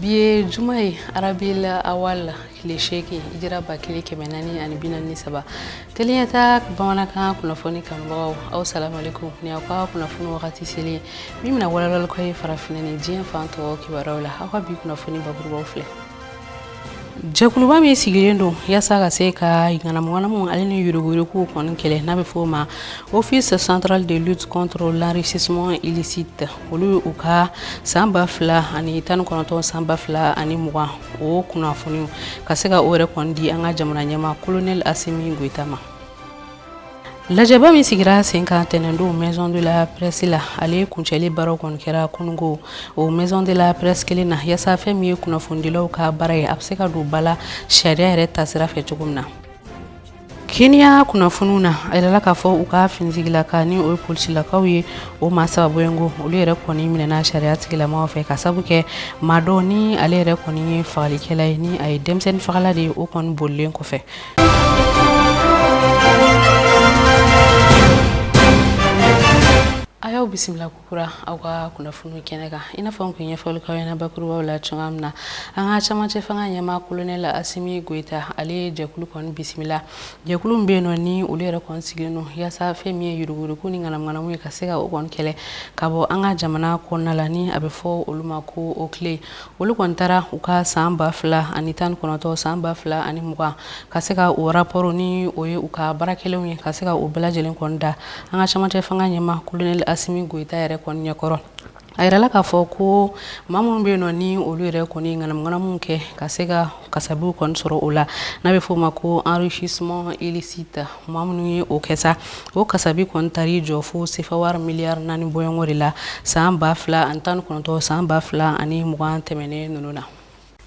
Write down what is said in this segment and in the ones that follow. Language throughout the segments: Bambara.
bi ye juma ye arabil awal tile seegin hijira ba kelen kɛmɛ naani ani bi naani saba teliyata bamanankan kunnafoni kanubagaw aw salamalekum ni aw ka kunnafoni wagati selen ye min bɛna walawalali k'aw ye farafinna ni diɲɛ fan tɔw kibaruyaw la aw ka bi kunnafoni bakurubaw filɛ jɛkuluba min sigilen don yasa ka se ka ŋanamuŋanamu ale ni yuruguyuruguw kɔni kɛlɛ n'a bɛ fɔ o ma office central de lutte contre l'enrichissement illicite olu ye u ka san ba fila ani tan ni kɔnɔntɔn san ba fila ani mugan o kunnafoniw ka se ka o yɛrɛ kɔni di an ka jamana ɲɛmaa kolonɛli asimi goyita ma lajɛba min sigira sen kan tɛnɛndon maison de la presse la ale kuncɛli baaraw kɔni kɛra kunungo o maison de la presse kelen na yasa fɛn min ye kunnafonidilaw ka baara ye a bɛ se ka don ba la sariya yɛrɛ tasira fɛ cogo min na keniya kunnafoniw na a yirala k'a fɔ u ka finitigilaka ni o ye polisilakaw ye o maa saba bɔɲɔnko olu yɛrɛ kɔni minɛna sariya tigilamaw fɛ ka sabu kɛ maa dɔ ni ale yɛrɛ kɔni ye fagalikɛla ye ni a ye denmisɛnnin fagala de ye o kɔni bolilen kɔfɛ a y'aw bisimila ko kura aw ka kunnafoni kɛnɛ kan i n'a fɔ n tun ye fɔli k'aw ɲɛna bakurubaw la cogoya min na an ka camancɛ fanga ɲɛmaa kolonɛli asimi goyita ale ye jɛkulu kɔni bisimila jɛkulu min bɛ yen nɔ ni olu yɛrɛ kɔni sigilen don yaasa fɛn min ye yuruguyurugu ni ŋanamuŋanamu ye ka se ka o kɔni kɛlɛ ka bɔ an ka jamana kɔnɔna la ni a bɛ fɔ olu ma ko oclei olu kɔni taara u ka san ba fila ani tan kɔnɔntɔn san ba fila ani mugan ka se ka o raporo ni o ye u ka baara kɛlenw ye ka se ka o bɛɛ lajɛlen kɔn da an ka camancɛ fanga ɲɛmaa kolonɛli asimi goyita yɛrɛ kɔn ɲɛkɔrɔ a yirala k'a fɔ ko maa minnu bɛ yen nɔ ni olu yɛrɛ kɔni ŋanamuŋanamu kɛ ka se ka kasabiw kɔni sɔrɔ o la n'a bɛ fɔ o ma ko enrichissement illicite maa minnu ye o kɛ sa o kasabi kɔni taar'i jɔ fo sefa wari miliyari naani bɔɲɔnko de la san ba fila ani tan kɔnɔntɔn san ba fila ani mugan tɛmɛnen ninnu na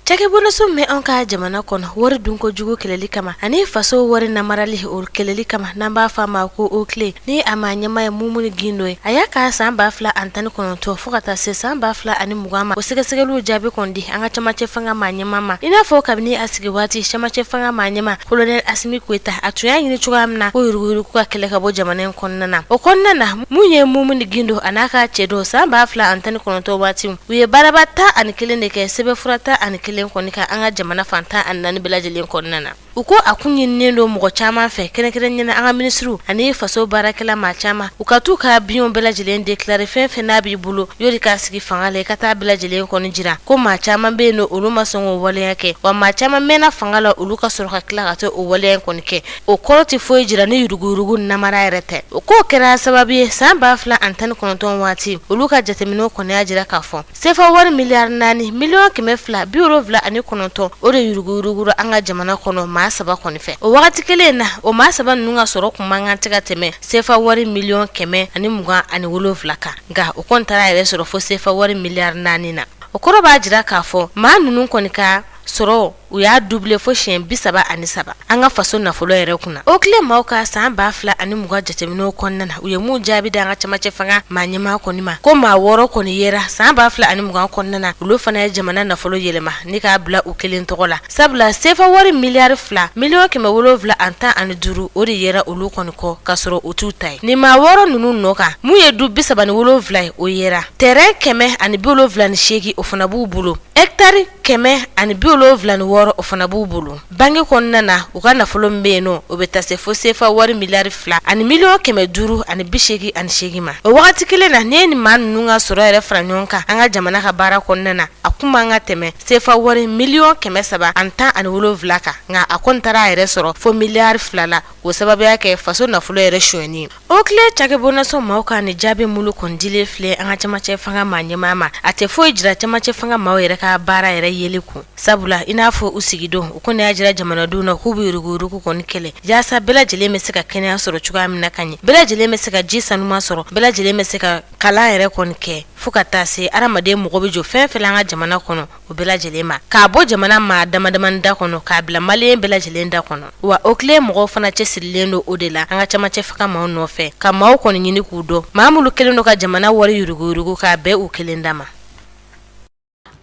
Cɛkɛboloso min anw ka jamana kɔnɔ wari dunko jugu kɛlɛli kama ani faso wari namarali o kɛlɛli kama n'an b'a fɔ a ma ko oclei ni a maa ɲɛmaa ye mumuni gindo ye a y'a ka san ba fila ani tan kɔnɔntɔn fo ka taa se san ba fila ani mugan ma o sɛgɛsɛgɛliw jaabi kɔni di an ka camancɛ fanga maa ɲɛ ɲɛmaa ma i n'a fɔ kabini a sigi waati camancɛ fanga maa ɲɛmaa kolonɛli asimi goyita a tun y'a ɲini cogoya min na ko yuruguyurugu ka kɛlɛ ka bɔ jamana in kɔnɔna na o kɔnɔna na mun ye mumuni gindo a n'a ka cɛdenw san ba fila ani tan ni kɔnɔntɔn waati u ye baaraba tan ani kelen de kɛ sɛbɛnfura tan ani kelen kɔni kan an ka jamana fan tan ani naani bɛɛ lajɛlen kɔnɔna na U ko a kun ɲininnen don mɔgɔ caman fɛ kɛrɛnkɛrɛnnenya na an ka minisiriw ani faso baarakɛla maa caman u ka taa u ka biens bɛɛ lajɛlen déclarer fɛn fɛn n'a b'i bolo yani i ka sigi fanga la i ka taa a bɛɛ lajɛlen kɔni jira ko maa caman bɛ yen nɔ olu ma sɔn k'o waleya kɛ wa maa caman mɛnna fanga la olu ka sɔrɔ ka tila ka taa o waleya kɔni kɛ o kɔrɔ tɛ foyi jira ni yuruguyurugu namara yɛrɛ tɛ u ko o kɛra sababu ye san ba fila ani tan ni kɔnɔntɔn waati olu ka jateminɛ kɔni y'a jira k'a fɔ Sefa wari miliyari naani miliyɔn kɛmɛ fila bi wolonwula ani kɔnɔntɔn o de yuruguyurugura an ka jamana kɔnɔ maa saba kɔni fɛ o waati kelen na o maa saba ninnu ka sɔrɔ tun man kan ka tɛmɛ sefa wari miliyɔn kɛmɛ ani mugan ani wolonwula kan nka o kɔni taara a yɛrɛ sɔrɔ fo sefa wari miliyari naani na o kɔrɔ b'a jira k'a fɔ maa ninnu kɔni ka sɔrɔ u y'a dubule fo siɲɛ bi saba ani saba an ka faso nafolo yɛrɛ kunna OCLEI maaw ka san ba fila ani mugan jateminɛw kɔnɔna na u ye mun jaabi d'an ka camancɛ fanga maa ɲɛmaa kɔni ma ko maa wɔɔrɔ kɔni yera san ba fila ani mugan kɔnɔna na olu fana ye jamana nafolo yɛlɛma ni k'a bila u kelen tɔgɔ la sabula sefa wari miliyari fila miliyɔn kɛmɛ wolonwula ani tan ani duuru o de yera olu kɔni kɔ k'a sɔrɔ u t'u ta ye nin maa wɔɔrɔ ninnu nɔ kan mun ye du bi saba ni wolonwula ye o yera tɛrɛn kɛmɛ ani bi wolonwula ni seegin o fana b'u bolo ɛkitari kɛmɛ ani bi wolonwula ni wɔɔrɔ o fana b'u bolo banki kɔnɔna na u ka nafolo bɛ yen nɔ o bɛ taa se fo sefa wari miliyari fila ani miliyɔn kɛmɛ duuru ani bi seegin ani seegin ma o wagati kelen na n'i ye nin maa ninnu ka sɔrɔ yɛrɛ fara ɲɔgɔn kan an ka jamana ka baara kɔnɔna na a kun man kan ka tɛmɛ sefa wari miliyɔn kɛmɛ saba ani tan ani wolonwula kan nka a kɔni taara a yɛrɛ sɔrɔ fo miliyari fila la o sababu y'a kɛ faso nafolo yɛrɛ sonyani OCLEI cakɛ bonnaso maaw ka nin jaabi minnu kɔni dilen filɛ an ka camancɛ fanga maa ɲɛmaa ma a tɛ foyi jira camancɛ fanga maaw yɛrɛ ka baara yɛrɛ yeli kun sabula i n'a fɔ u sigidon u kɔni y'a jira jamanadenw na k'u bɛ yuruguyurugu kɔni kɛlɛ yaasa bɛɛ lajɛlen bɛ se ka kɛnɛya sɔrɔ cogoya min na ka ɲɛ bɛɛ lajɛlen bɛ se ka ji sanuman sɔrɔ bɛɛ lajɛlen bɛ se ka kalan yɛrɛ kɔni kɛ fo ka taa se hadamaden mago bɛ jɔ fɛn o fɛn na an ka jamana kɔnɔ o bɛɛ lajɛlen ma k'a bɔ jamana maa damadamanin da kɔnɔ k'a bila maliyɛn bɛɛ lajɛlen da kɔnɔ wa OCLEI mɔgɔw fana cɛsirilen don o de la an ka camancɛ fanga maaw nɔfɛ ka maaw kɔni ɲini k'u dɔn maa minnu kɛlen don ka jamana wari yuruguyurugu k'a bɛɛ u kelen dama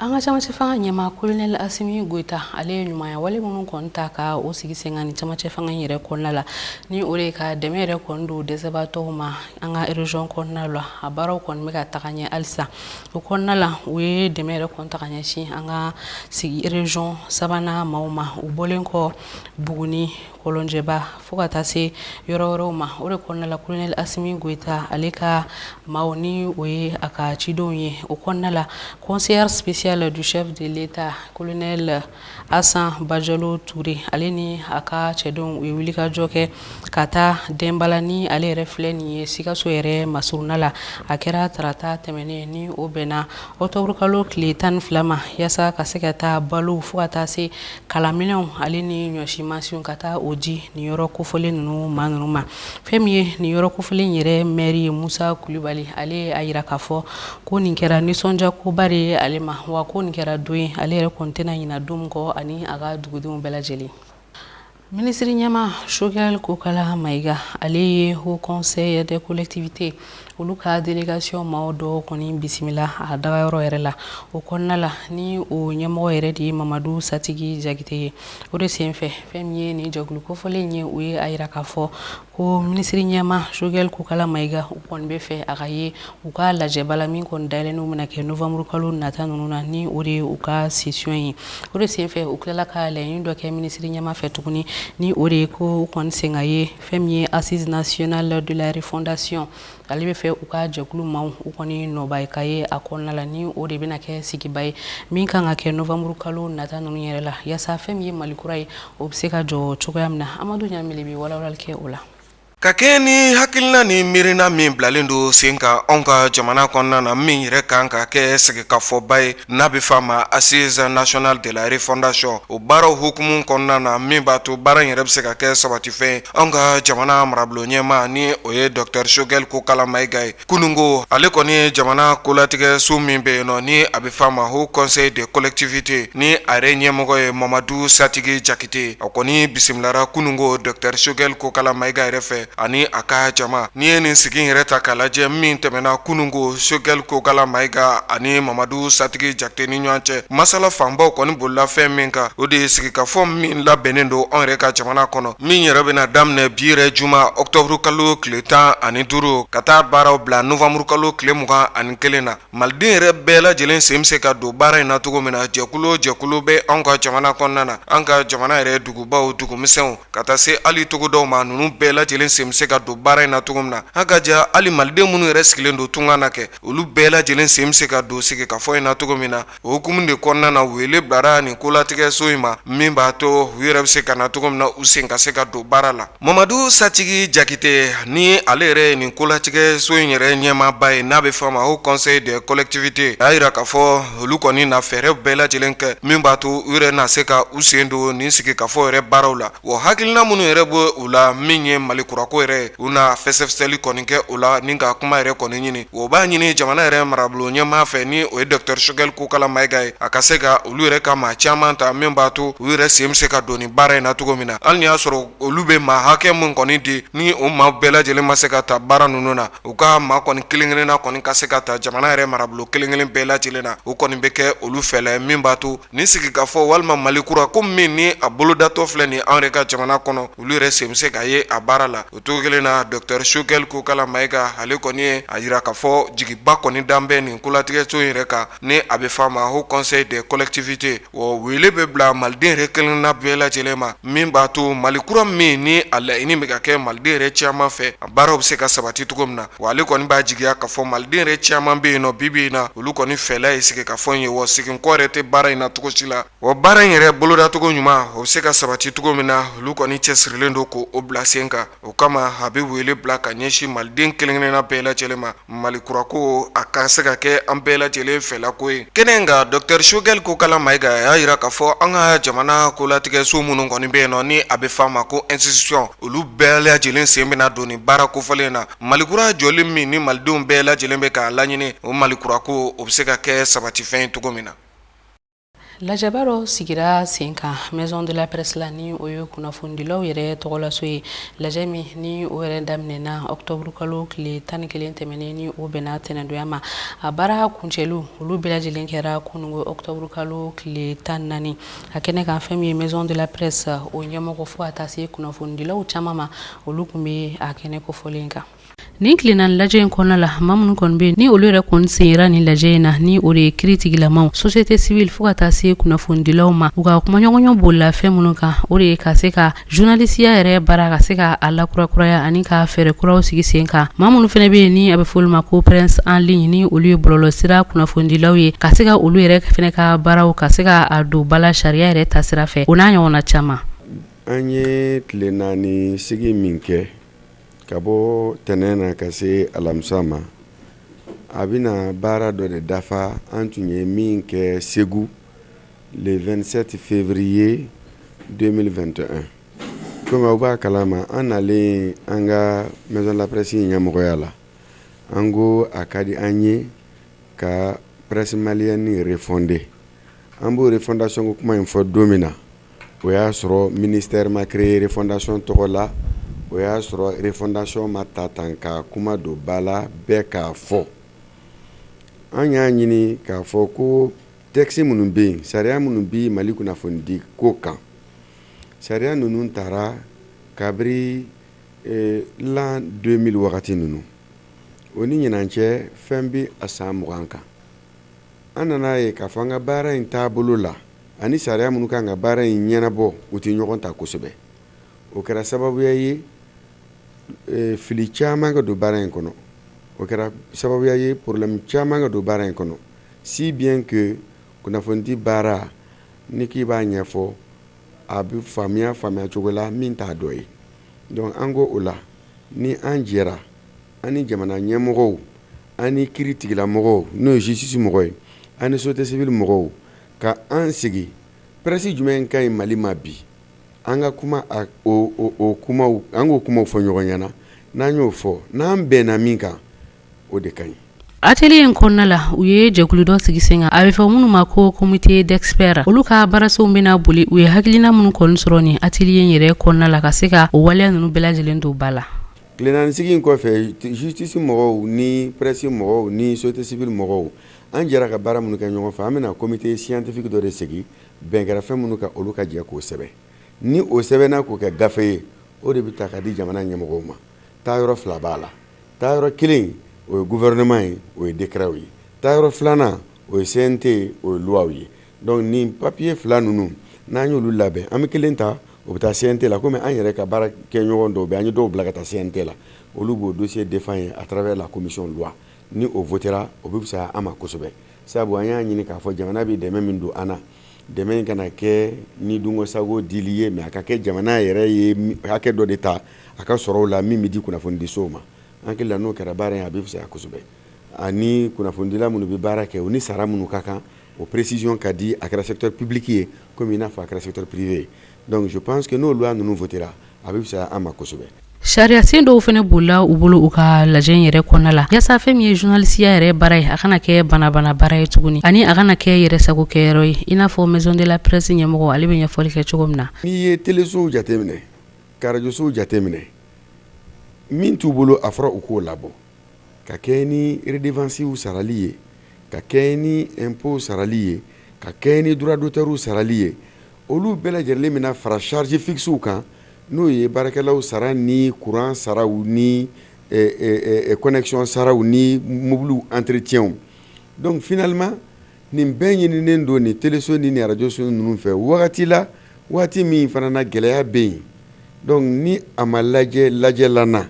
an ka camancɛ fanga ɲɛmaa kolonɛli asimi goyita ale ye ɲumanya wale minnu kɔni ta ka o sigi sen kan ni camancɛ fanga yɛrɛ kɔnɔna la ni o de ye ka dɛmɛ yɛrɛ kɔni don dɛsɛbaatɔw ma an ka erezɔn kɔnɔna la a baaraw kɔni bɛ ka taga ɲɛ halisa O kɔnɔna la u ye dɛmɛ yɛrɛ kɔni ta ka ɲɛsin an ka sigi erezɔn sabanan maaw ma u bɔlen kɔ buguni kɔlɔnjɛba fo ka taa se yɔrɔ wɛrɛw ma o de kɔnɔna la kolonɛli asimi goyita ale ka maaw ni o ye a ka cidenw ye o kɔnɔna la conseillère spéciale du chef de l'État kolonɛli Asan bajalo ture ale ni a ka cɛdenw u ye wulikajɔ kɛ ka taa denbala ni ale yɛrɛ filɛ nin ye sikaso yɛrɛ masurunna la a kɛra tarata tɛmɛnen ni o bɛnna ɔkutɔburukalo tile tan ni fila ma yaasa ka se ka taa balo fo ka taa se kalanminɛnw ale ni ɲɔsimansinw ka taa o di nin yɔrɔ kofɔlen ninnu maa ninnu ma fɛn min ye nin yɔrɔ kofɔlen yɛrɛ mɛri ye musa kulubali ale y'a jira k'a fɔ ko nin kɛra nisɔndiyakoba de ye ale ma wa ko nin kɛra don ye ale yɛrɛ kɔni tɛna ɲina don min kɔ ani a ka dugudenw bɛɛ lajɛlen minisiri ɲɛmaa sogɛli kokala mayiga ale ye haut conseil des collectivités olu ka délégation maaw dɔw kɔni bisimila a dagayɔrɔ yɛrɛ la o kɔnɔna la ni o ɲɛmɔgɔ yɛrɛ de ye mamadu satigi jakite ye o de senfɛ fɛn min ye nin jɛkulu kofɔlen ye u ye a yira k'a fɔ ko minisiri ɲɛmaa choguel kokala mayiga u kɔni bɛ fɛ a ka ye u ka lajɛba la min kɔni dayɛlɛnniw bɛna kɛ novembre kalo nata ninnu na ni o de ye u ka session ye o de senfɛ u tilala ka laɲini dɔ kɛ minisiri ɲɛmaa fɛ tuguni ni o de ye ko u kɔni sen ka ye fɛn min ye assise nationale de la refondation ale bɛ fɛ u ka jɛkulu maaw u kɔni nɔba ka ye a kɔnɔna la ni o de bɛna kɛ sigiba ye min kan ka kɛ novembre kalo nata ninnu yɛrɛ la yaasa fɛn min ye mali kura ye o bɛ se ka jɔ cogoya min na amadu ɲamile bɛ walawalali kɛ o la ka kɛɲɛ ni hakilina ni miirina min bilalen don sen kan anw ka jamana kɔnɔna na min yɛrɛ kan ka kɛ sigikafɔba ye n'a bɛ f'a ma assise nationale de la refondation o baaraw hukumu kɔnɔna na min b'a to baara in yɛrɛ bɛ se ka kɛ sabatifɛn ye anw ka jamana marabolo ɲɛmaa ni o ye docteur Choguel Kokala Mayiga ye kunungo ale kɔni ye jamana kolatigɛso min bɛ yen nɔ ni a bɛ f'a ma haut conseil des collectivités ni a yɛrɛ ɲɛmɔgɔ ye Mamadu Satigi Jakite a kɔni bisimilara kunungo docteur Choguel Kokala Mayiga yɛrɛ fɛ ani a ka jama n'i ye nin sigi yɛrɛ ta k'a lajɛ min tɛmɛna kunungo choguel kokala mayiga ani mamadu satigi jakite ni ɲɔgɔn cɛ masala fanbaw kɔni bolila fɛn min kan o de ye sigikafɔ min labɛnnen don anw yɛrɛ ka jamana kɔnɔ min yɛrɛ bɛna daminɛ bi yɛrɛ juma octobre kalo tile tan ani duuru ka taa baaraw bila novembre kalo tile mugan ani kelen na maliden yɛrɛ bɛɛ lajɛlen sen bɛ se ka don baara in na cogo min na jɛkulu o jɛkulu bɛ anw ka jamana kɔnɔna na an ka jamana yɛrɛ dugubaw dugumisɛnw ka taa se hali togodaw ma ninnu bɛɛ lajɛlen sen bɛ se ka don baara in na cogo min na an ka ja hali maliden minnu yɛrɛ sigilen don tunga na kɛ olu bɛɛ lajɛlen sen bɛ se ka don sigikafɔ in na cogo min na O hukumu de kɔnɔna na wele bilara nin kolatigɛso in ma min b'a to u yɛrɛ bɛ se ka na cogo min na u sen ka se ka don baara la mamadu satigi jakite ni ale yɛrɛ ye nin kolatigɛso in yɛrɛ ɲɛmaaba ye n'a bɛ f'a ma haut conseil des collectivités y'a yira k'a fɔ olu kɔni na fɛɛrɛ bɛɛ lajɛlen kɛ min b'a to u yɛrɛ na se ka u sen don nin sigikafɔ yɛrɛ baaraw la Wa hakilina minnu yɛrɛ bɛ u la min ye mali kurako yɛrɛ u na fɛsɛfɛsɛli kɔni kɛ o la ni ka kuma yɛrɛ kɔni ɲini o b'a ɲini jamana yɛrɛ marabolo ɲɛmaa fɛ ni o ye docteur choguel kokala mayiga ye a ka se ka olu yɛrɛ ka maa caman ta min b'a to u yɛrɛ sen bɛ se ka don nin baara in na cogo min na hali n'i y'a sɔrɔ olu bɛ maa hakɛ min kɔni di ni o maa bɛɛ lajɛlen ma se ka taa baara ninnu na u ka maa kɔni kelen-kelenna kɔni ka se ka taa jamana yɛrɛ marabolo kelenkelen bɛɛ lajɛlen na o kɔni bɛ kɛ olu fɛ min b'a to Nin sigikafɔ walima mali kura ko min ni a bolodatɔ filɛ nin an yɛrɛ ka jamana kɔnɔ olu yɛrɛ sen bɛ se ka ye a baara la o cogo kelen na docteur choguel kokala mayiga ale kɔni ye a yira k'a fɔ jigiba kɔni dalen bɛ nin kolatigɛso in yɛrɛ kan ni a bɛ f'a ma haut conseil des collectivités o wele bɛ bila maliden yɛrɛ kelenna bɛɛ lajɛlen ma min b'a to mali kura min ni a laɲini bɛ ka kɛ maliden yɛrɛ caman fɛ a baaraw bɛ se ka sabati cogo min na wa ale kɔni b'a jigiya k'a fɔ maliden yɛrɛ caman bɛ yen nɔ bibi in na olu kɔni fɛla ye sigikafɔ in ye wa seginkɔ yɛrɛ tɛ baara in na cogo si la wa baara in yɛrɛ bolodacogo ɲuman o bɛ se ka sabati cogo min na olu kɔni cɛsirilen don k'o bila sen kan o kama a bɛ wele bila ka ɲɛsin maliden kelen-kelenna bɛɛ lajɛlen ma mali kura ko a ka se ka kɛ an bɛɛ lajɛlen fɛlako ye kɛnɛ in kan dɔkitɛri sogɛli kokala mayiga a y'a jira k'a fɔ an ka jamana kolatigɛso minnu kɔni bɛ yen nɔ ni a bɛ f'a ma ko institution olu bɛɛ lajɛlen sen bɛna don nin baara kofɔlen na mali kura jɔlen min ni malidenw bɛɛ lajɛlen bɛ k'a laɲini o mali kura ko o bɛ se ka kɛ sabatifɛn ye cogo min na lajɛba dɔ sigira sen kan maison de la presse la ni o ye kunnafonidilaw yɛrɛ tɔgɔlaso ye lajɛ min ni o yɛrɛ daminɛna ɔkutɔburukalo tile tan ni kelen tɛmɛnen ni o bɛnna tɛnɛndonya ma a baara kuncɛliw olu bɛɛ lajɛlen kɛra kunungo ɔkutɔburukalo tile tan ni naani a kɛnɛ kan fɛn min ye maison de la presse o ɲɛmɔgɔ fo ka taa se kunnafonidilaw caman ma olu tun bɛ a kɛnɛ kofɔlen kan nin tile naani lajɛ in kɔnɔna la maa minnu kɔni bɛ ni olu yɛrɛ kɔni senyera nin lajɛ in na ni o de ye kiritigɛlamaw société civile fo ka taa se kunnafonidilaw ma u ka kumaɲɔgɔnya bolila fɛn minnu kan o de ye ka se ka Zurunalisiya yɛrɛ baara ka se k'a lakurakuraya ani ka fɛɛrɛ kuraw sigi sen kan maa minnu fɛnɛ bɛ yen ni a bɛ fɔ olu ma ko presse en ligne ni olu ye bɔlɔlɔsira kunnafonidilaw ye ka se ka olu yɛrɛ fɛnɛ ka baaraw ka se k'a don ba la sariya yɛrɛ taasira fɛ o n'a ɲɔgɔnna caman an ye tile naani sigi min kɛ ka bɔ tɛnɛn na ka se alamisa ma a bɛna baara dɔ de dafa an tun ye min kɛ segu 27 février 2021 kɔmi aw b'a kala ma an nalen an ka maison de la presse in ɲɛmɔgɔya la an ko a ka di an ye ka presse malienne refonder an b'o refondation ko kuma in fɔ don min na o y'a sɔrɔ ministère ma créé refondation tɔgɔ la o y'a sɔrɔ refondation ma ta tan ka kuma don ba la bɛɛ k'a fɔ an y'a ɲini k'a fɔ ko Tɛkisi minnu bɛ yen sariya minnu bɛ mali kunnafonidi ko kan sariya ninnu tara kabiri l'an deux mille wagati ninnu o ni ɲinan cɛ fɛn bɛ a san mugan kan an nana a ye k'a fɔ an ka baara in taabolo la ani sariya minnu kan ka baara in ɲɛnabɔ u tɛ ɲɔgɔn ta kosɛbɛ o kɛra sababuya ye fili caman ka don baara in kɔnɔ o kɛra sababuya ye problème caman ka don baara in kɔnɔ si bien que kunnafonidi baara ni k'i b'a ɲɛfɔ a bɛ faamuya faamuya cogo la min t'a dɔ ye donc an ko o la ni an jɛra an ni jamana ɲɛmɔgɔw ani kiritigɛlamɔgɔw n'o ye justice mɔgɔ ye ani société civile mɔgɔw ka an sigi presse jumɛn ka ɲi Mali ma bi an ka kuma a o o kumaw an k'o kumaw fɔ ɲɔgɔn ɲɛna n'an y'o fɔ n'an bɛnna min kan o de ka ɲi atelier in kɔnɔna la u ye jɛkulu dɔ sigi sen kan a bɛ fɔ minnu ma ko comité d'experts olu ka baarasenw bɛna boli u ye hakilina minnu kɔni sɔrɔ nin atelier in yɛrɛ kɔnɔna la ka se ka o waleya ninnu bɛɛ lajɛlen don ba la tile naani sigi in kɔfɛ justice mɔgɔw ni presse mɔgɔw ni société civile mɔgɔw an jɛra ka baara minnu kɛ ɲɔgɔn fɛ an bɛna comité scientifique dɔ de sigi bɛn kɛra fɛn minnu kan olu ka jɛ k'o sɛbɛn ni o sɛbɛnna k'o kɛ gafe ye o de bɛ ta ka di jamana ɲɛmɔgɔw ma taa yɔrɔ fila b'a la taa yɔrɔ kelen o ye gouvernement ye o ye décrets ye taa yɔrɔ filanan o ye CNT ye o ye lois ye donc nin papier fila ninnu n'an y'olu labɛn an bɛ kelen ta o bɛ taa CNT la komi an yɛrɛ ka baarakɛɲɔgɔn dɔw bɛ an ye dɔw bila ka taa CNT la olu b'o dossier défend yen à travers la commission loi ni o votera o bɛ fisaya an ma kosɛbɛ sabu an y'a ɲini k'a fɔ jamana bɛ dɛmɛ min don an na dɛmɛ in kana kɛ ni dungɔ sago dili ye mais a ka kɛ jamana yɛrɛ ye hakɛ dɔ de ta a ka sɔrɔw la min bɛ di kunnafonidisow ma an hakili la n'o kɛra baara in a bɛ fisaya kosɛbɛ ani kunnafonidila minnu bɛ baara kɛ u ni sara minnu ka kan o précision ka di a kɛra secteur public ye komi i n'a fɔ a kɛra secteur privé ye donc je pense que n'o loi ninnu votera a bɛ fisaya an ma kosɛbɛ sariyasen dɔw fana bolila u bolo u ka lajɛ yɛrɛ kɔnɔna la yaasa fɛn min ye journalistiya yɛrɛ baara ye a kana kɛ banabana baara ye tuguni ani a kana kɛ yɛrɛ sago kɛyɔrɔ ye i n'a fɔ Maison de la Presse ɲɛmɔgɔ ale bɛ ɲɛfɔli kɛ cogo min na n'i ye telesow jateminɛ k'arajosow jateminɛ min t'u bolo a fɔra u k'o labɔ ka kɛɲɛ ni redevancew sarali ye ka kɛɲɛ ni impôtw sarali ye ka kɛɲɛ ni droit d'auteurw sarali ye olu bɛɛ lajɛlen mana fara charge fixew kan n'o ye baarakɛlaw sara ni courant saraw ni connexion saraw ni mobiliw entretiens donc finalement nin bɛɛ ɲininen don nin teleso ni nin radioso ninnu fɛ wagati la waati min fana na gɛlɛya bɛ yen donc ni a ma lajɛ lajɛlan na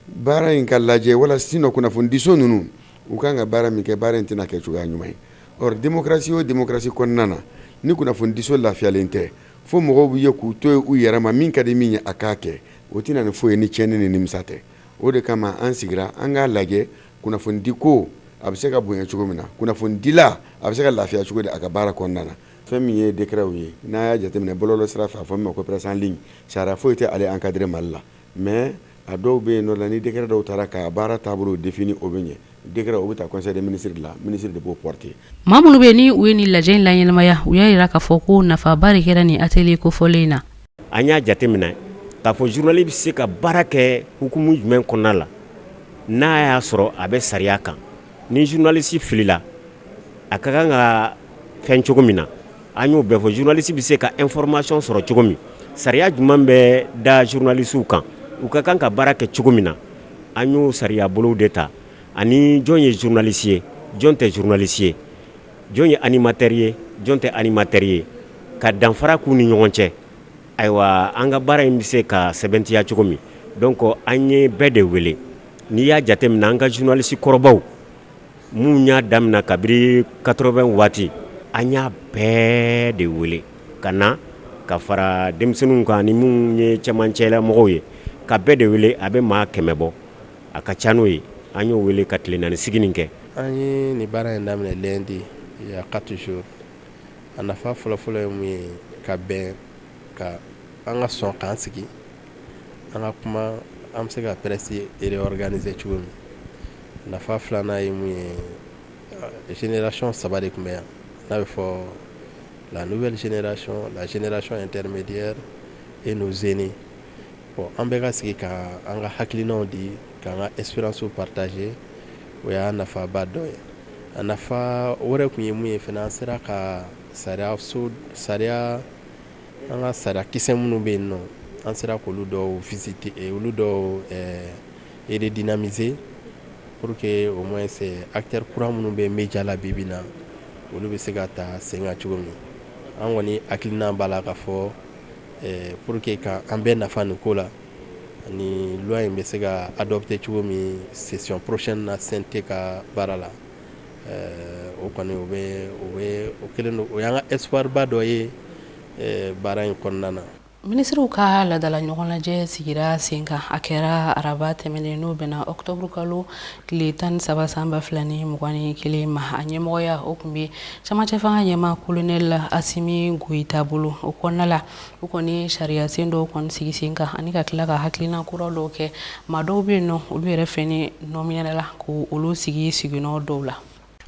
baara in ka lajɛ wala sinon kunnafonidiso ninnu u kan ka baara min kɛ baara in tɛna kɛ cogoya ɲuman ye Or démocratie o démocratie kɔnɔna na ni kunnafonidiso lafiyalen tɛ fo mɔgɔw bɛɛ k'u to yen u yɛrɛ ma min ka di min ye a k'a kɛ o tɛ na ni foyi ye ni tiɲɛni ni nimisa tɛ o de kama an sigira an k'a lajɛ kunnafonidi ko a bɛ se ka bonya cogo min na kunnafonidila a bɛ se ka lafiya cogo di a ka baara kɔnɔna na fɛn min ye décretw ye n'a y'a jateminɛ bɔlɔlɔ sira fɛ a fɔ min ma ko presse en ligne sariya foyi tɛ ale encadrer Mali la mɛ A dɔw bɛ yen nɔ la ni décret dɔw taara ka baara taabolo définir o bɛ ɲɛ décret o bɛ taa conseil des ministres de la minisiri de b'o porter maa minnu bɛ ni u ye nin lajɛ in laɲɛnamaya u y'a yira k'a fɔ ko nafaba de kɛra nin atelier kofɔlen in na an y'a jateminɛ k'a fɔ zurunalisi bɛ se ka baara kɛ hukumu jumɛn kɔnɔna la n'a y'a sɔrɔ a bɛ sariya kan ni zurunalisi filila a ka kan ka fɛn cogo min na an y'o bɛɛ fɔ zurunalisi bɛ se ka information sɔrɔ cogo min sariya jumɛn bɛ da zurunalisiw kan u ka kan ka baara kɛ cogo min na an y'o sariya bolow de ta ani jɔn ye zurunalisi ye jɔn tɛ zurunalisi ye jɔn ye animatɛri ye jɔn tɛ animatɛri ye ka danfara k'u ni ɲɔgɔn cɛ ayiwa an ka baara in bɛ se ka sɛbɛntiya cogo min donc an ye bɛɛ de wele n'i y'a jateminɛ an ka zurunalisi kɔrɔbaw minnu y'a daminɛ kabiri quatre-vingt waati an y'a bɛɛ de wele ka na ka fara denmisɛnninw kan ni minnu ye camancɛla mɔgɔw ye ka bɛɛ de wele a bɛ maa kɛmɛ bɔ a ka ca n'o ye an y'o weele ka tile naani sigi nin kɛ an ye nin baara in daminɛ lundi il y a quatre jours a nafa fɔlɔfɔlɔ ye mun ye ka bɛn ka an ka sɔn k'an sigi an ka kuma an bɛ se ka presse réorganiser cogo min nafa filanan ye mun ye génération saba de tun bɛ yan n'a bɛ fɔ la nouvelle génération la génération intermédiaire et nos aînés bon an bɛɛ ka sigi ka an ka hakilinaw di ka an ka expérience partager o y'a nafaba dɔ ye a nafa wɛrɛ tun ye mun ye fana an sera ka sariya An ka sariya kisɛ minnu bɛ yen nɔ an sera k'olu dɔw visiter olu dɔw redynamiser pour que au moins acteur kura minnu bɛ média la bi bi in na olu bɛ se ka ta sen kan cogo min an kɔni hakilina b'a la k'a fɔ pour que ka an bɛɛ nafa nin ko la ani loi in bɛ se ka adopter cogo min session prochaine na CNT ka baara la o kɔni o kelen don o y'an ka espoir ba dɔ ye baara in kɔnɔna na minisiriw ka laadala ɲɔgɔn lajɛ sigira sen kan a kɛra araba tɛmɛnen n'o bɛnna ɔkutɔburu kalo tile tan ni saba san ba fila ni mugan ni kelen ma a ɲɛmɔgɔya o tun bɛ camancɛ fanga ɲɛmaa kolonɛli Asimi Goyita bolo o kɔnɔna la u kɔni sariya sen dɔw kɔni sigi sen kan ani ka tila ka hakilina kura dɔw kɛ maa dɔw bɛ yen nɔ olu yɛrɛ fɛnɛ nɔminela k'olu sigi siginɔ dɔw la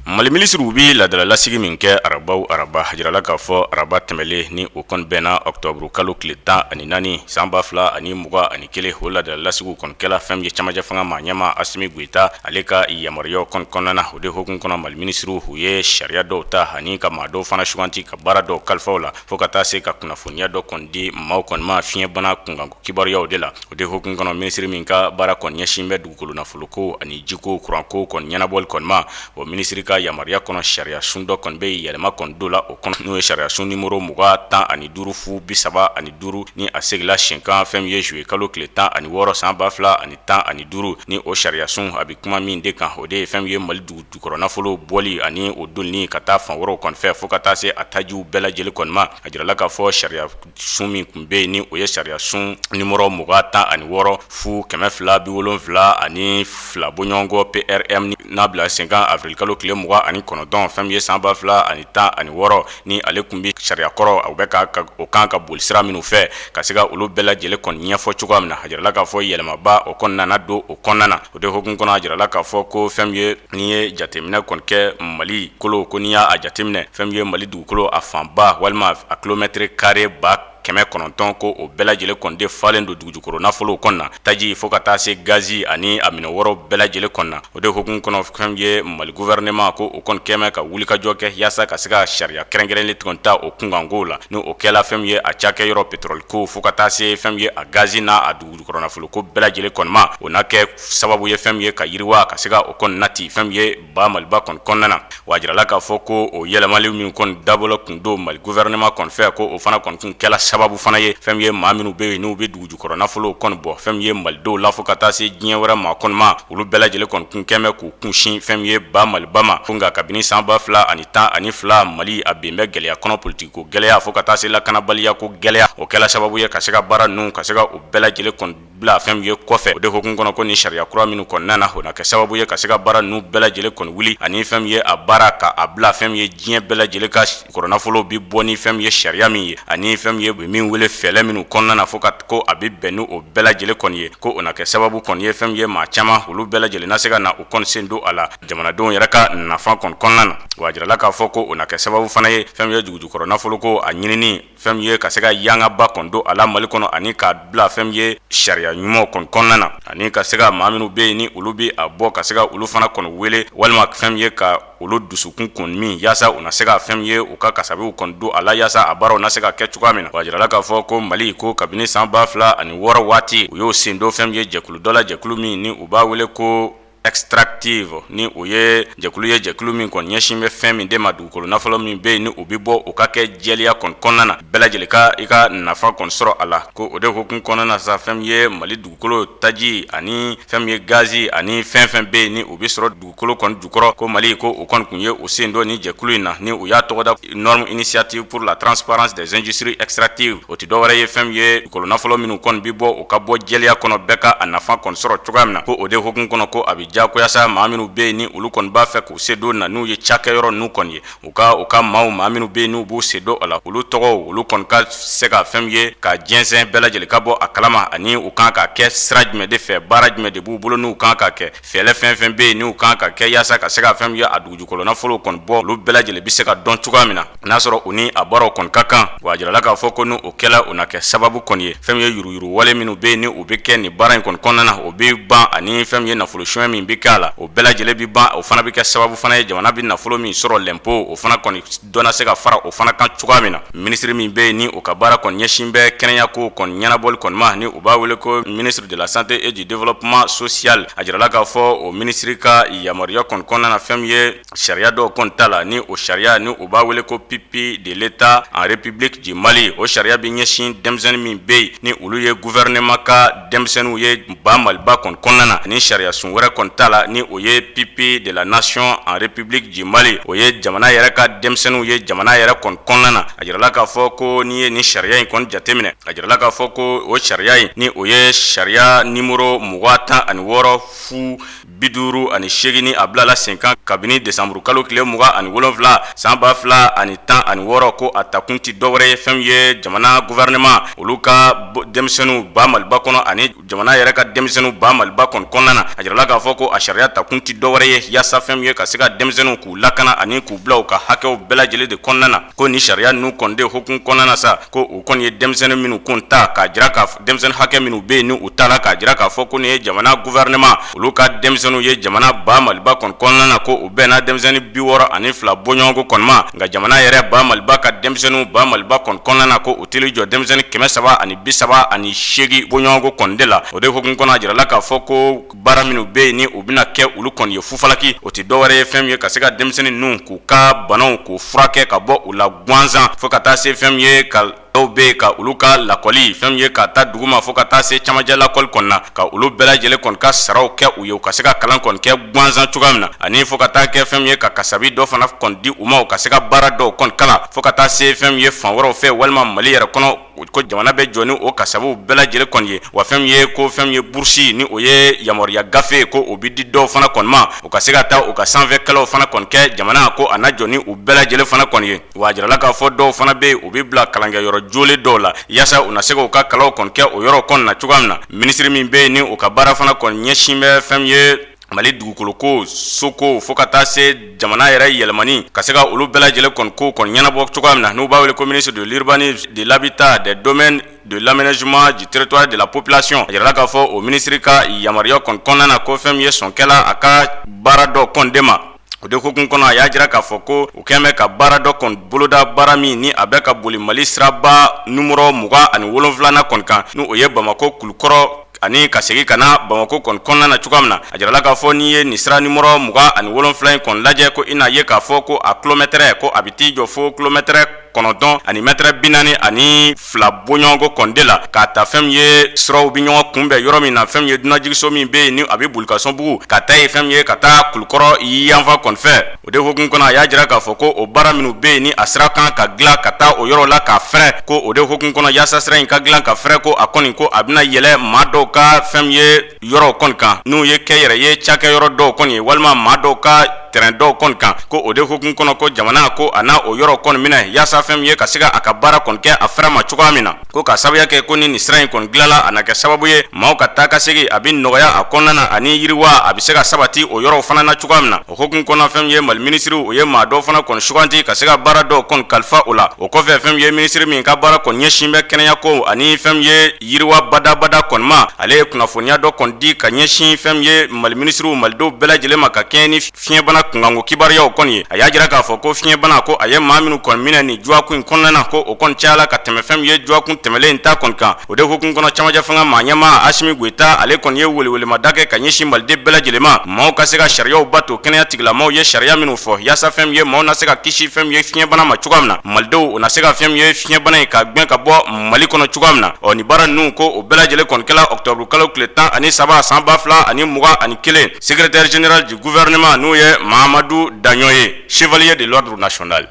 mali minisiriw bɛ laadala lasigi min kɛ araba o araba a jirala k'a fɔ araba tɛmɛnlen ni o kɔni bɛnna ɔkutɔburu kalo tile tan ani naani sanba fila ani mugan ani kelen o laadala lasigiw kɔni kɛla fɛn min ye camancɛ fanga maa ɲɛmaa Asimi Goyita ale ka yamaruya kɔni kɔnɔna na o de hukumu kɔnɔ mali minisiriw u ye sariya dɔw ta ani ka maa dɔw fana suganti ka baara dɔw kalifa u la fo ka taa se ka kunnafoniya dɔ kɔni di maaw kɔni ma fiɲɛbana kunkan kibaruyaw de la o de hukumu kɔnɔ minisiri min ka baara kɔni ɲɛsin bɛ dugukolo nafolo ko ani jiko kuranko kɔni ɲɛnabɔli kɔnima o minisiri ka yamaruya kɔnɔ sariya sun dɔ kɔni bɛ yɛlɛma kɔni don la o kɔnɔ n'o ye sariya sun nimɔrɔ mugan tan ani duuru fu bi saba ani duuru ni a sigila senkan fɛn min ye zuye kalo tile tan ani wɔɔrɔ san ba fila ani tan ani duuru ni o sariya sun a bɛ kuma min de kan o de ye fɛn min ye mali dugu jukɔrɔ nafolo bɔli ani o donini ka taa fan wɛrɛw kɔni fɛ fo ka taa se a tajiw bɛɛ lajɛlen kɔni ma a jirala k'a fɔ sariya sun min tun bɛ yen ni o ye sariya sun nimɔrɔ mugan tan ani wɔɔrɔ fu kɛmɛ fila bi wolonwula ani fila bɔɲɔgɔnkɔ prm n'a bila senkan awirili kalo tile mugan ani kɔnɔntɔn fɛn min ye san ba fila ani tan ani wɔɔrɔ ni ale tun bɛ sariya kɔrɔ a bɛ o kan ka boli sira minnu fɛ ka se ka olu bɛɛ lajɛlen kɔni ɲɛfɔ cogoya min na a jirala k'a fɔ yɛlɛmaba o kɔni nana don o kɔnɔna na o de hukumu kɔnɔ a jirala k'a fɔ ko fɛn min ye n'i ye jateminɛ kɔni kɛ mali kolo ko n'i y'a jateminɛ fɛn min ye mali dugukolo a fanba walima a kilomɛtɛrɛ kare ba kɛmɛ kɔnɔntɔn ko o bɛɛ lajɛlen kɔni de falen don dugujukɔrɔ nafolow kɔn na taji fo ka taa se gazi ani a minɛ wɛrɛw bɛɛ lajɛlen kɔn na o de hukumu kɔnɔ fɛn min ye mali gouvernement ko o kɔni kɛmɛ ka wulikajɔ kɛ yaasa ka se ka sariya kɛrɛnkɛrɛnlen kɔni ta o kunkanko la n' o kɛla fɛn min ye a cakɛyɔrɔ petroli ko fo ka taa se fɛn min ye a gazi n'a dugujukɔrɔ nafolo ko bɛɛ lajɛlen kɔni ma o na kɛ sababu ye fɛn min ye ka yiriwa ka se ka o kɔni nati fɛn min ye ba maliba kɔni kɔnɔna na wa a jirala k'a fɔ ko o yɛlɛmali min kɔni dabɔlen tun don mali gouvernement kɔni fɛ ko o fana kɔni kun kɛla sababu fana ye fɛn min ye maa minnu bɛ yen n'u bɛ dugu jukɔrɔ nafolo kɔni bɔ fɛn min ye malidenw la fo ka taa se diɲɛ wɛrɛ maa kɔni ma olu bɛɛ lajɛlen kɔni kun kɛmɛ k'u kunsin fɛn min ye ba maliba ma ko nka kabini san ba fila ani tan ani fila mali a ben bɛ gɛlɛya kɔnɔ politiki ko gɛlɛya fo ka taa se lakanabaliya ko gɛlɛya o kɛla sababu ye ka se ka baara ninnu ka se ka o bɛɛ lajɛlen bila fɛn min ye kɔfɛ o de hukumu kɔnɔ ko ni sariya kura minnu kɔni nana o na kɛ sababu ye ka se ka baara ninnu bɛɛ lajɛlen kɔni wuli ani fɛn min ye a baara ka a bila fɛn min ye diɲɛ bɛɛ lajɛlen ka jukɔrɔnafolo bɛ bɔ ni fɛn min ye sariya min ye ani fɛn min ye min wele fɛlɛ minnu kɔnɔna na fo ka ko a bɛ bɛn n' o bɛɛ lajɛlen kɔni ye ko o na kɛ sababu kɔni ye fɛn min ye maa caman olu bɛɛ lajɛlen na se ka na u kɔni sen don a la jamanadenw yɛrɛ ka nafa kɔni kɔnɔna na wa a jirala k'a fɔ ko o na kɛ sababu fana ye fɛn min ye dugujukɔrɔnafolo ko a ɲini fɛn min ye ka se ka yangaba kɔni don a la mali kɔnɔ ani k'a bila fɛn min ye sariya ɲumanw kɔni kɔnɔna na ani ka se ka maa minnu bɛ yen ni olu bɛ a bɔ ka se ka olu fana kɔni wele walima fɛn min ye ka olu dusukun kɔni min yaasa u na se ka fɛn min ye u ka kasabiw kɔni don a la yaasa a baaraw na se ka kɛ cogoya min na wa a jirala k'a fɔ ko mali ko kabini san ba fila ani wɔɔrɔ waati u y'o sen don fɛn min ye jɛkulu dɔ la jɛkulu min ni u b'a wele ko extractive ni o ye jɛkulu ye jɛkulu min kɔni ɲɛsin bɛ fɛn min de ma dugukolo nafolo min bɛ yen ni o bɛ bɔ o ka kɛ jɛlenya kɔni kɔnɔna na bɛɛ lajɛlen ka i ka nafa kɔni sɔrɔ a la ko o de hukumu kɔnɔna na sa fɛn min ye mali dugukolo taji ani fɛn min ye gazi ani fɛn fɛn bɛ yen ni o bɛ sɔrɔ dugukolo kɔni jukɔrɔ ko mali ko o kɔni tun ye o sen don nin jɛkulu in na ni o y'a tɔgɔda norme initiative pour la transparence des industries extractives o tɛ dɔwɛrɛ ye fɛn ye dugukolonafolo minnu kɔni bɛ bɔ u ka bɔ jɛliya kɔnɔ bɛɛ ka a nafa kɔni sɔrɔ cogoya min na ko o de hukumu kɔnɔ ko a bɛ diyagoya sa maa minnu bɛ yen ni olu kɔni b'a fɛ k'u sen don na n'u ye cakɛyɔrɔ n'u kɔni ye u ka u ka maaw maa minnu bɛ yen n'u b'u sen don a la olu tɔgɔ olu kɔni ka se ka fɛn ye ka jɛnsɛn bɛɛ lajɛlen ka bɔ a kalama ani u kan ka kɛ sira jumɛn de fɛ baara jumɛn de b'u bolo n'u kan ka kɛ Fɛlɛ fɛn fɛn bɛ yen n'u kan ka kɛ yaasa ka se ka fɛn ye a dugujukɔrɔnafolo kɔni bɔ olu bɛɛ lajɛlen bɛ se ka dɔn cogoya min na n'a sɔrɔ u ni a baaraw kɔni ka kan wa a jirala k'a fɔ ko ni o kɛla o na kɛ sababu kɔni ye fɛn ye yuruyuru wale minnu bɛ yen ni u bɛ kɛ nin baara in kɔni kɔnɔna na o bɛ ban ani fɛn ye nafolo suɲɛ min bɛ kɛ a la o bɛɛ lajɛlen bɛ ban o fana bɛ kɛ sababu fana ye jamana bɛ nafolo min sɔrɔ lɛnpo o fana kɔni dɔ na se ka fara o fana kan cogoya min na Minisiri min bɛ yen ni u ka baara kɔni ɲɛsin bɛ kɛnɛya ko kɔni ɲɛnabɔli kɔni ma ni u b'a wele ko ministre de la santé et du développement social a jirala k'a fɔ o minisiri ka yamaruya kɔni kɔnɔna na fɛn ye sariya dɔw kɔni tala ni o sariya ni u b'a wele ko pupille de l'état en république du mali o sariya bɛ ɲɛsin denmisɛnnin min bɛ yen ni olu ye gouvernement ka denmisɛnninw ye ba maliba kɔni kɔnɔna na ni sariya sun wɛrɛ kɔni tala ni o ye pupille de la nation en république du mali o ye jamana yɛrɛ ka denmisɛnninw ye jamana yɛrɛ kɔni kɔnɔna na a jirala k'a fɔ ko n'i ye nin sariya in kɔni jateminɛ a jirala k'a fɔ ko o sariya in ni o ye sariya nimɔrɔ mugan tan ani wɔɔrɔ fu bi duuru ani seegin ni a bilala senkan kabini desanmuru kalo tile mugan ani wolonwula san ba fila ani tan ani wɔɔrɔ ko a takun tɛ dɔwɛrɛ ye fɛn ye jamana gouvernement olu ka denmisɛnninw ba maliba kɔnɔ ani jamana yɛrɛ ka denmisɛnninw ba maliba kɔni kɔnɔna na a jirala k'a fɔ ko a sariya takun tɛ dɔwɛrɛ ye yaasa fɛn ye ka se ka denmisɛnninw k'u lakana ani k'u bila u ka hakɛw bɛɛ lajɛlen de kɔnɔna na ko nin sariya ninnu kɔni de hukumu kɔnɔna na sa ko u kɔni ye denmisɛnnin minnu kun ta k'a jira ka denmisɛnnin hakɛ minnu bɛ yen ni u tala k'a jira k'a fɔ ko ni ye jamana gouvernement olu ka denmisɛnninw ye jamana ba maliba kɔni kɔnɔna na ko u bɛnna denmisɛnnin bi wɔɔrɔ ani fila bɔɲɔgɔnko kɔni ma nka jamana yɛrɛ ba maliba ka denmisɛnninw ba maliba kɔni kɔnɔna na ko u teli jɔ denmisɛnnin kɛmɛ saba ani bi saba ani seegin bɔɲɔgɔnko kɔni de la o de hukumu kɔnɔ a jirala k'a fɔ ko baara minnu bɛ yen ni u bɛna kɛ olu kɔni ye fufalaki o tɛ dɔwɛrɛ ye fɛn ye ka se ka denmisɛnnin ninnu k'u ka banaw k'u furakɛ ka bɔ u la gansan fo ka taa se fɛn ye ka dɔw bɛ yen ka olu ka lakɔli fɛn ye k'a ta duguma fo ka taa se camancɛ lakɔli kɔnɔna na ka olu bɛɛ lajɛlen kɔni ka saraw kɛ u ye u ka se ka kalan kɔni kɛ gansan cogoya min na ani fo ka taa kɛ fɛn ye ka kasabi dɔ fana kɔni di u ma u ka se ka baara dɔw kɔni kalan fo ka taa se fɛn ye fan wɛrɛw fɛ walima mali yɛrɛ kɔnɔ o ko jamana bɛ jɔ ni o kasabiw bɛɛ lajɛlen kɔni ye wa fɛn ye ko fɛn ye burusi ni o ye yamaruya gafe ko o bɛ di dɔw fana kɔni ma u ka se ka taa u ka sanfɛkalanw fana kɔni kɛ jamana ko a na jɔ ni u bɛɛ lajɛlen fana kɔni ye wa a jirala k'a fɔ dɔw fana bɛ yen u bɛ bila kalankɛyɔrɔ jɔlen dɔw la yaasa u na se k'u ka kalanw kɔni kɛ o yɔrɔ kɔni na cogoya min na minisiri min bɛ yen ni u ka baara fana kɔni ɲɛsin bɛ fɛn ye mali dugukoloko soko fo ka taa se jamana yɛrɛ yɛlɛmani ka se ka olu bɛɛ lajɛlen kɔni ko kɔni ɲɛnabɔ cogoya min na n'u b'a wele ko ministre de l'urbanisme de l'habitat des domaines de l'aménagement du territoire de la population a jirala k'a fɔ o minisiri ka yamaruya kɔni kɔnɔna na ko fɛn min ye sɔn kɛla a ka baara dɔ kɔni de ma O de hukumu kɔnɔ a y'a jira k'a fɔ ko u kɛlen bɛ ka baara dɔ kɔni boloda baara min ni a bɛ ka boli mali siraba nimɔrɔ mugan ani wolonwula kɔni kan n'o ye bamakɔ kulukɔrɔ ani ka segin ka na bamakɔ kɔni kɔnɔna na cogoya min na a jirala k'a fɔ n'i ye nin sira nimɔrɔ mugan ani wolonwula in kɔni lajɛ ko i n'a ye k'a fɔ ko a kilomɛtɛrɛ ko a bɛ t'i jɔ fo kilomɛtɛrɛ kɔnɔntɔn ani mɛtɛrɛ bi naani ani fila bɔɲɔgɔnko kɔni de la k'a ta fɛn min ye siraw bi ɲɔgɔn kunbɛn yɔrɔ min na fɛn min ye dunanjigiso min bɛ yen ni a bɛ bulkasumbugu ka taa ye fɛn min ye ka taa kulukɔrɔ yanfan kɔni fɛ o de hukumu kɔnɔ a y'a jira k'a fɔ ko o baara minnu bɛ yen ni a sira kan ka dilan ka taa o yɔrɔ la k'a fɛrɛ ko o de hukumu kɔnɔ yaasa sira in ka dilan ka fɛrɛ ko a kɔni ko a bɛna yɛlɛn maa dɔw ka fɛn min ye yɔrɔ kɔni kan n'u ye kɛnyɛrɛye cakɛyɔrɔ dɔw kɔni ye walima maa dɔw ka tɛrɛn dɔw kɔni kan ko o de hukumu kɔnɔ ko jamana ko a na o yɔrɔ kɔni minɛ yaasa fɛn min ye ka se ka a ka baara kɔni kɛ a fɛrɛ ma cogoya min na ko ka sababuya kɛ ko ni nin sira in kɔni dilanla a na kɛ sababu ye maaw ka taa ka segin a bɛ nɔgɔya a kɔnɔna na ani yiriwa a bɛ se ka sabati o yɔrɔ fana na cogoya min na o hukumu kɔnɔ fɛn min ye mali minisiriw u ye maa dɔw fana kɔni sugandi ka se ka baara dɔw kɔni kalifa o la o kɔfɛ fɛn min ye minisiri min ka baara kɔni ɲɛsin bɛ kɛnɛya ko ani fɛn min ye yiriwa badabada kɔni ma ale ye kunnafoniya dɔ kɔni di ka ɲɛsin fɛn min ye mali minisiriw malidenw bɛɛ lajɛlen ma ka kɛɲɛ ni fiɲɛbana kunkanko kibaruyaw kɔni ye a y'a jira k'a fɔ ko fiɲɛbana ko a ye maa minnu kɔni minɛ nin dɔgɔkun in kɔnɔna na ko o kɔni cayala ka tɛmɛ fɛn min ye dɔgɔkun tɛmɛnlen in ta kɔni kan o de hukumu kɔnɔ cɛmancɛ fanga maa ɲɛmaa asimi goyita ale kɔni ye welewelemada kɛ ka ɲɛsin maliden bɛɛ lajɛlen ma maaw ka se ka sariyaw bato kɛnɛya tigilamaw ye sariya minnu fɔ yaasa fɛn min ye maaw na se ka kisi fɛn min ye fiɲɛbana ma cogoya min na malidenw u na se ka fɛn min ye fiɲɛbana in ka gɛn ka bɔ mali kɔnɔ cogoya min na ɔ nin baara ninnu ko o bɛɛ lajɛlen kɔni kɛla ɔkutɔburukalo tile tan ani saba san ba fila ani mugan ani kelen secrétaire général du gouvernement n'o ye mahamadu daɲɔ ye chevalier de l'ordre national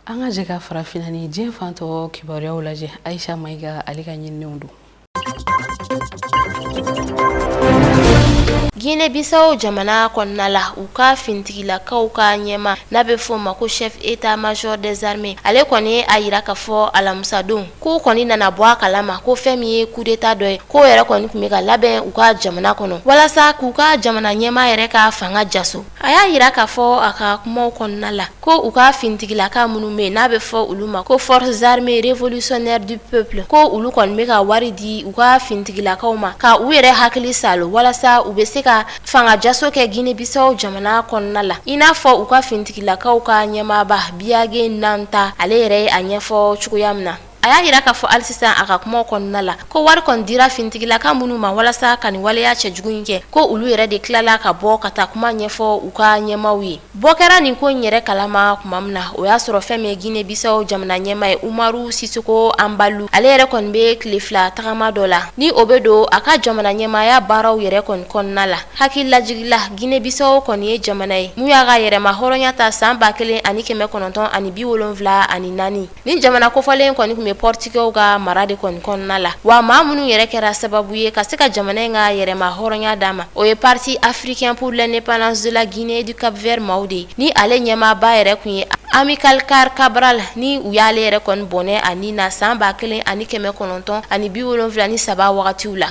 an ka jɛ ka farafinna ni diɲɛ fan tɔ kibaruyaw lajɛ ayisa mayiga ale ka ɲininenw don Guinée Bissau jamana kɔnɔna la u ka fintigilakaw ka ɲɛmaa n'a bɛ fɔ o ma ko chef état major des armées ale kɔni a yira k'a fɔ alamusadon k'u kɔni nana bɔ a kalama ko fɛn min ye coup d'état dɔ ye k'o yɛrɛ kɔni tun bɛ ka labɛn u ka jamana kɔnɔ walasa k'u ka jamana ɲɛmaa yɛrɛ ka fanga jaso A y'a yira k'a fɔ a ka kumaw kɔnɔna la ko u ka fintigilaka minnu bɛ yen n'a bɛ fɔ olu ma ko forces armées révolutionnaires du peuple ko olu kɔni bɛ ka wari di u ka fintigilakaw ma ka u yɛrɛ hakili saalo walasa u bɛ se ka fangajaso kɛ gine bisawo jamana kɔnɔna la i n'a fɔ u ka fintigilakaw ka ɲɛmaaba biyage nantan ale yɛrɛ a ɲɛfɔ cogoya min na a y'a yira k'a fɔ hali sisan a ka kumaw kɔnɔna la ko wari kɔni dira finitigilaka minnu ma walasa ka nin waleya cɛjugu in kɛ ko olu yɛrɛ de tilala ka bɔ ka taa kuma ɲɛfɔ u ka ɲɛmaaw ye bɔ kɛra nin ko in yɛrɛ kalama kuma min na o y'a sɔrɔ fɛn min ye Guinée-Bissau jamana ɲɛmaa ye umaru sisoko anbalu ale yɛrɛ kɔni bɛ tile fila tagama dɔ la ni o bɛ don a ka jamana ɲɛmaaya baaraw yɛrɛ kɔni kɔnɔna la hakililajigin la Guinée-Bissau kɔni ye jamana ye mun y'a ka yɛrɛmahɔrɔnya ta san ba kelen ani kɛmɛ kɔnɔntɔn ani bi wolonwula ani naani Ni jamana kofɔlen kɔni tun bɛ pɔritigɛw ka mara de kɔni kɔnɔna la wa maa minnu yɛrɛ kɛra sababu ye ka se ka jamana in ka yɛrɛmahɔrɔnya d'a ma o ye Parti africain pour l'indépendance de la Guinée et du Cap-Vert maaw de ye ni ale ɲɛmaaba yɛrɛ kun ye Amilcar Cabral ni u y'ale yɛrɛ kɔni bɔnɛ a ni na san ba kelen ani kɛmɛ kɔnɔntɔn ani bi wolonwula ni saba wagatiw la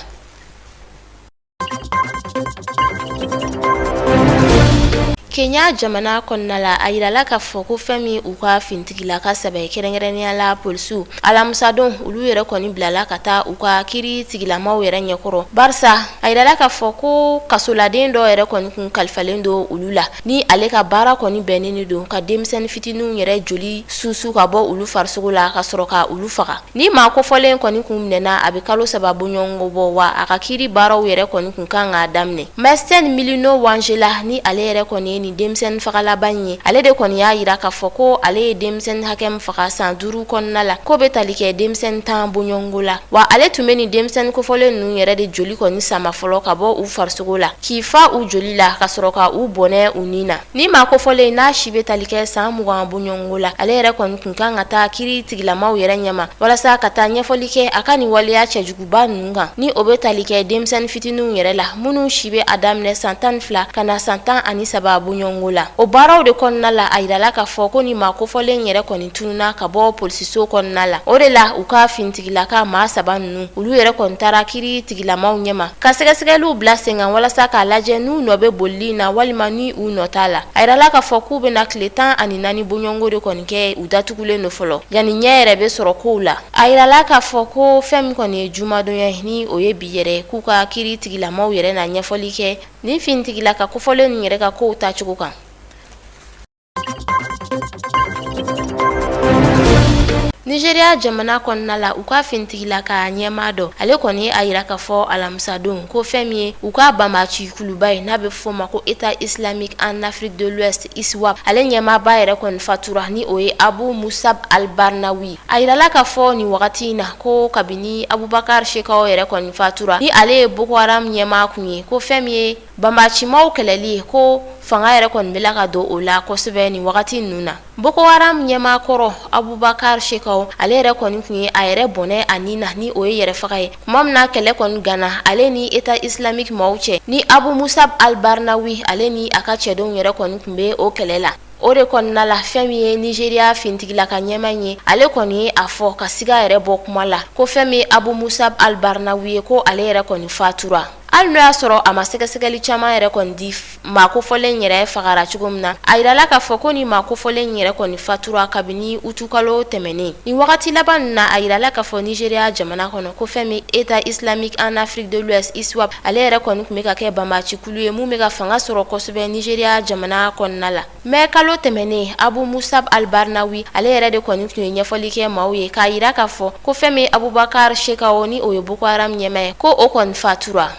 Kenya jamana kɔnɔna la a yirala k'a fɔ ko fɛn min u ka fintigilaka saba ye kɛrɛnkɛrɛnnenya la polisiw alamusadon olu yɛrɛ kɔni bilala ka taa u ka kiri tigilamaw yɛrɛ ɲɛkɔrɔ barisa a yirala k'a fɔ ko kasoladen dɔ yɛrɛ kɔni kun kalifalen don olu la ni ale ka baara kɔni bɛnnen don ka denmisɛnnin fitininw yɛrɛ joli susu ka bɔ olu farisogo la ka sɔrɔ ka olu faga Ni maa kofɔlen kɔni kun minɛna a bɛ kalo saba bɔɲɔgɔnko bɔ wa a ka kiri baaraw yɛrɛ kɔni kun kan k'a daminɛ Masten Milimo Wanjala ni ale yɛrɛ kɔni ye nin denmisɛnnin fagalaba in ye ale de kɔni y'a yira k'a fɔ ko ale ye denmisɛnnin hakɛ min faga san duuru kɔnɔna la k'o bɛ tali kɛ denmisɛnnin tan bɔɲɔgɔnko la wa ale tun bɛ nin denmisɛnnin kofɔlen ninnu yɛrɛ de joli kɔni sama fɔlɔ ka bɔ u farisogo la k'i fa u joli la ka sɔrɔ ka u bɔnɛ u ni na Ni maa kofɔlen n'a si bɛ tali kɛ san mugan bɔɲɔgɔnko la ale yɛrɛ kɔni tun kan ka taa kiri tigilamaw yɛrɛ ɲɛma walasa ka taa ɲɛfɔli kɛ a ka nin waleya cɛjuguba ninnu kan ni o bɛ tali kɛ denmisɛnnin fitininw yɛrɛ la minnu si bɛ a daminɛ san tan ni fila ka na san tan ani saba bɔɲɔgɔnko la o baaraw de kɔnɔna la a yirala k'a fɔ ko ni maa kofɔlen yɛrɛ kɔni tununna ka bɔ polisiso kɔnɔna la o de la u ka fintigilaka maa saba ninnu olu yɛrɛ kɔni taara kiri tigilamaw ɲɛma ka sɛgɛsɛgɛliw bila sen kan walasa k'a lajɛ n'u nɔ bɛ bolili na walima ni u nɔ t'a la a yirala k'a fɔ k'u bɛna tile tan ani naani bɔɲɔgɔnko de kɔni kɛ u datugulen don fɔlɔ yanni ɲɛ yɛrɛ bɛ sɔrɔ kow la a yirala k'a fɔ ko fɛn min kɔni ye jumadonya ye ni o ye bi yɛrɛ k'u ka kiri tigilamaw yɛrɛ na ɲɛfɔli kɛ nin fintigilaka kofɔlen ninnu yɛrɛ ka kow tacogo kan Nigeria jamana kɔnɔna la u ka fintigilaka ɲɛmaa dɔ ale kɔni y'a yira k'a fɔ alamisadon ko fɛn min ye u ka banbaci kuluba ye n'a bɛ fɔ ma ko État islamique en Afrique de l'Ouest ISWAP ale ɲɛmaaba yɛrɛ kɔni fatura ni o ye Abu Musab al-Barnawi a yirala k'a fɔ nin wagati in na ko kabini Abubakar Shekau yɛrɛ kɔni fatura ni ale ye Boko Haram ɲɛmaa tun ye ko fɛn min ye Banbacimaw kɛlɛli ye ko fanga yɛrɛ kɔni bɛ la ka don o la kosɛbɛ ni wagati ninnu na Boko Haram ɲɛmaa kɔrɔ Abubakar Shekau ale yɛrɛ kɔni tun ye a yɛrɛ bɔnɛ a ni na ni o ye yɛrɛ faga ye tuma min na kɛlɛ kɔni ganna ale ni État islamique maaw cɛ ni Abu Musab al-Barnawi ale ni a ka cɛdenw yɛrɛ kɔni tun bɛ o kɛlɛ la O de kɔnɔna la fɛn min ye Nigeria fintigila ka ɲɛma ye ale kɔni ye a fɔ ka siga yɛrɛ bɔ kuma la ko fɛn min Abu Musab al-Barnawi ye ko ale yɛrɛ kɔni fatura hali n' y'a sɔrɔ a ma sɛgɛsɛgɛli caman yɛrɛ kɔni di maa kofɔlen yɛrɛ fagara cogo min na a jirala k'a fɔ ko ni maa kofɔlen yɛrɛ kɔni fatura kabini utukalo tɛmɛnen nin wagati laban in na a jirala k'a fɔ Nigeria jamana kɔnɔ ko fɛn min État islamique en Afrique de l'Ouest ISWAP ale yɛrɛ kɔni tun bɛ ka kɛ banbaci Kulu ye mun bɛ ka fanga sɔrɔ kosɛbɛ Nigeria jamana kɔnɔna la mai kalo tɛmɛnen Abu Musab al-Barnawi ale yɛrɛ de kɔni tun ye ɲɛfɔli kɛ maaw ye k'a jira k'a fɔ ko fɛn min Abubakar Shekau ni o ye Boko Haram ɲɛmaa ye ko o kɔni fatura.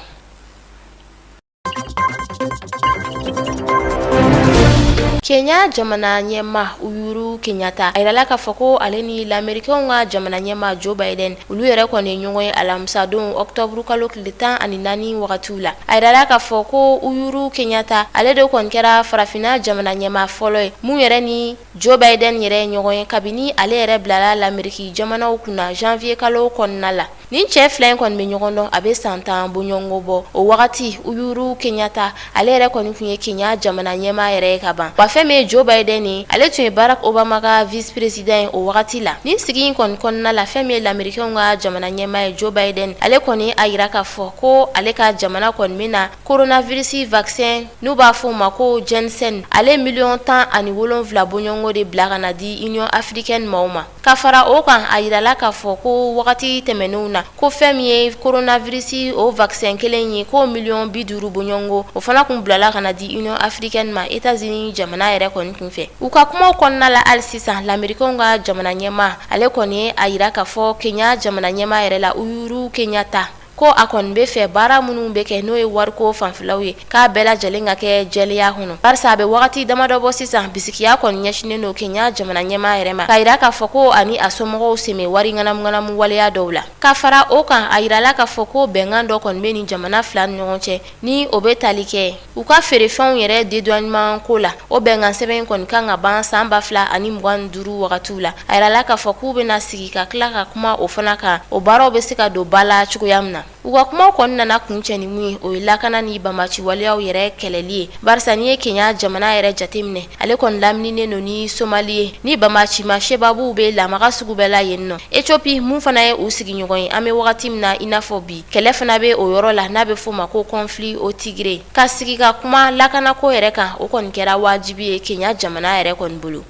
Kenya jamana ɲɛma Uhuru Kenyatta a jirala k'a fɔ ko ale ni lamerikenw ka jamana ɲɛma Joe Biden olu yɛrɛ kɔni ye ɲɔgɔn ye alamisadon octobre kalo tile tan ani naani wagatiw la a yirala k'a fɔ ko Uhuru Kenyatta ale de kɔni kɛra farafinna jamana ɲɛmaa fɔlɔ ye mun yɛrɛ ni Joe Biden yɛrɛ ye ɲɔgɔn ye kabini ale yɛrɛ bilala lameriki jamanaw kunna janvier kalo kɔnɔna la nin cɛ fila in kɔni bɛ ɲɔgɔn dɔn a bɛ san tan bɔɲɔgɔnko bɔ o wagati Uhuru Kenyatta ale yɛrɛ kɔni tun ye Kenya jamana ɲɛmaa yɛrɛ ye ka ban wa fɛn min ye Joe Biden ye ale tun ye Barack Obama ka vice-président ye o wagati la nin sigi in kɔni kɔnɔna la fɛn min ye lamerikɛnw ka jamana ɲɛmaa ye Joe Biden ale kɔni a jira k'a fɔ ko ale ka jamana kɔni bɛna coronavirus vaccin n'u b'a fɔ o ma ko Janssen ale miliyɔn tan ani wolonwula bɔɲɔgɔnko de bila ka na di Union africaine maaw ma Ka fara o kan a jirala k'a fɔ ko wagati tɛmɛnenw na ko fɛn min ye coronavirus o vaccin kelen ye ko miliyɔn bi duuru bɔɲɔgɔnko o fana tun bilala ka na di Union africaine ma États-Unis jamana yɛrɛ kɔni kun fɛ u ka kumaw kɔnɔna la hali sisan lamerikɛnw ka jamana ɲɛma ale kɔni ye a jira k'a fɔ Kenya jamana ɲɛmaa yɛrɛ la Uhuru Kenyatta Ko a kɔni bɛ fɛ baara minnu bɛ kɛ n'o ye wariko fanfɛlaw ye k'a bɛɛ lajɛlen ka kɛ jɛlenya kɔnɔ barisa a bɛ wagati damadɔ bɔ sisan bisigiya kɔni ɲɛsinnen don Kenya jamana ɲɛmaa yɛrɛ ma k'a jira k'a fɔ ko a ni a somɔgɔw sen bɛ wari ŋanamuŋanamu waleya dɔw la ka fara o kan a jirala k'a fɔ ko bɛnkan dɔ kɔni bɛ nin jamana fila ni ɲɔgɔn cɛ ni o bɛ tali kɛ u ka feerefɛnw yɛrɛ dédouanement ko la o bɛnkan sɛbɛn in kɔni kan ka ban san ba fila ani mugan duuru wagatiw la a yirala k'a fɔ k'u bɛna sigi ka tila ka kuma o fana kan o baaraw bɛ se ka don ba la cogoya min na u ka kumaw kɔni nana kuncɛ ni mun ye o ye lakana ni banbaci waleyaw yɛrɛ kɛlɛli ye barisa n'i ye kenya jamana yɛrɛ jateminɛ ale kɔni lamininen don ni somali ye ni banbacima shebabuw bɛ lamaga sugu bɛɛ la yen nɔ ethiopie mun fana ye u sigiɲɔgɔn ye an bɛ wagati min na i n'a fɔ bi kɛlɛ fana bɛ o yɔrɔ la n'a bɛ f'o ma ko conflit au tigré ka sigi ka kuma lakanako yɛrɛ kan o kɔni kɛra wajibi ye kenya jamana yɛrɛ kɔni bolo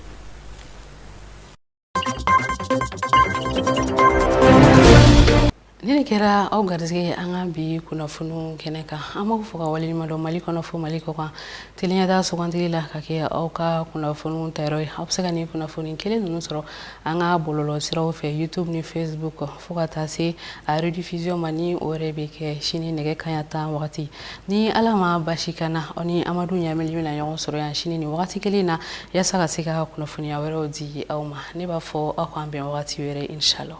nin de kɛra aw garisɛgɛ ye an ka bi kunnafoni kɛnɛ kan an b'aw fo ka waleɲumandɔn mali kɔnɔ fo mali kɔ kan tele ɲɛta sugandili la ka kɛ aw ka kunnafoni tayɔrɔ ye aw bɛ se ka nin kunnafoni kelen ninnu sɔrɔ an ka bɔlɔlɔ siraw fɛ youtube ni facebook fo ka taa se a rediffusion ma ni o yɛrɛ bɛ kɛ sini nɛgɛ kanɲɛ tan wagati ni ala ma basi ka na aw ni amadu ɲamɛli bɛna ɲɔgɔn sɔrɔ yan sini ni wagati kelen na yasa ka se ka kunnafoniya wɛrɛw di aw ma ne b'a fɔ aw k'an bɛn wagati wɛrɛ inshallah